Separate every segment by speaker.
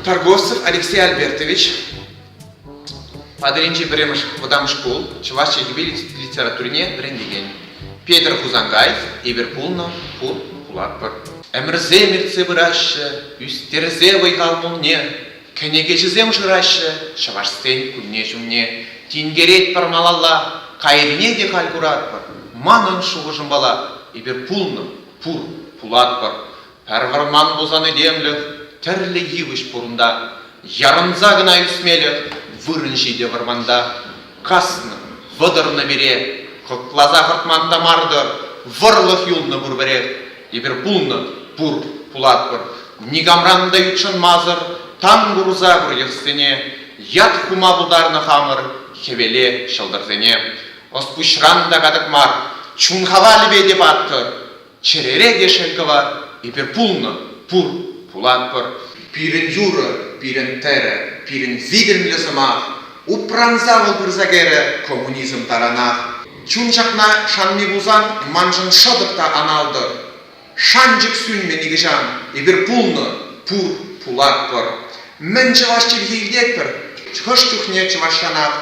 Speaker 1: Торгостов Алексей Альбертович, Атӑлӗнчи пӗрремӗш вӑтам шкул чӑваш чӗлхипе литературине вӗрентекен. Петӗр Хусанкай эпир пулнӑ ку кулатпӑр. Ӗмӗрсем иртсе пыраҫҫӗ, ӳстерсе вӑй-хал пулне. Кӗнекеҫӗсем шыраҫҫӗ чӑвашсен кунне-ҫумне. Тинкеретпӗр малалла, кайрине те халь куратпӑр. Манӑн шухӑшӑмпала эпир пулнӑ, пур, пулатпӑр. Пӗр вӑрман пулсан этемлӗх тӗрлӗ йывӑҫ пур унта. Ярӑнса кӑна ӳсмелӗх вырӑн ҫитӗ вӑрманта. Каснӑ, вӑтӑрнӑ пире, кӑкласа хӑртман та мар-тӑр, вӑрлӑх юлнӑ пурпӗрех. Эпир пулнӑ, пур, пулатпӑр. Никамран та ютшӑнмасӑр тан курса выльӑхсене, ят хума пултарнӑ хамӑр хӗвеле ҫӑлтӑрсене. Ӑс-пуҫран та катӑк мар, чун хавалӗпе те паттӑр. Чӗрере те шел кӑвар. Эпир пулнӑ, пур, пулатпӑр. Пирӗн юрӑ, пирӗн тӗрӗ, пирӗн витӗмлӗ сӑмах упранса вӑл пырса кӗрӗ коммунизм таранах. Чун ҫакна шанми пулсан маншӑн шӑтӑк та аналтӑр. Шанчӑк сӳнмӗ нихӑҫан. Эпир пулнӑ, пур, пулатпӑр. Мӗн чӑваш чӗлхи илтетпӗр? Хӑш чухне чӑвашранах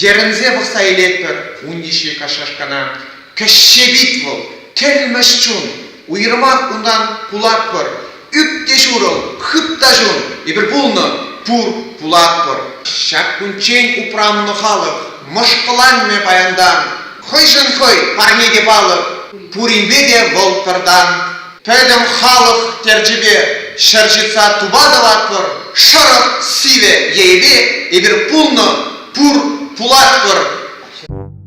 Speaker 1: йӗрӗнсе пӑхса илетпӗр ун йышши кашашкана. Кӗҫҫевит вӑл, кӗлмӗҫ чун. Уйрӑмах унтан кулатпӑр. Ӳт те ҫурӑл, хыт та ҫун. Эпир пулнӑ, пур, пулатпӑр. Ҫак кунччен упраннӑ халӑх. Мӑшкӑланмӗ паянтан. Хӑйшӗн хӑй, парне те палӑк. Пуринпе те вӑл пӗртан. Пӗтӗм халӑх терчӗпе. Ҫӗр ҫытса тупа тӑватпӑр. Шӑрӑх, сивӗ, йӗйӗпе. Эпир пулнӑ, пур, пулатпӑр.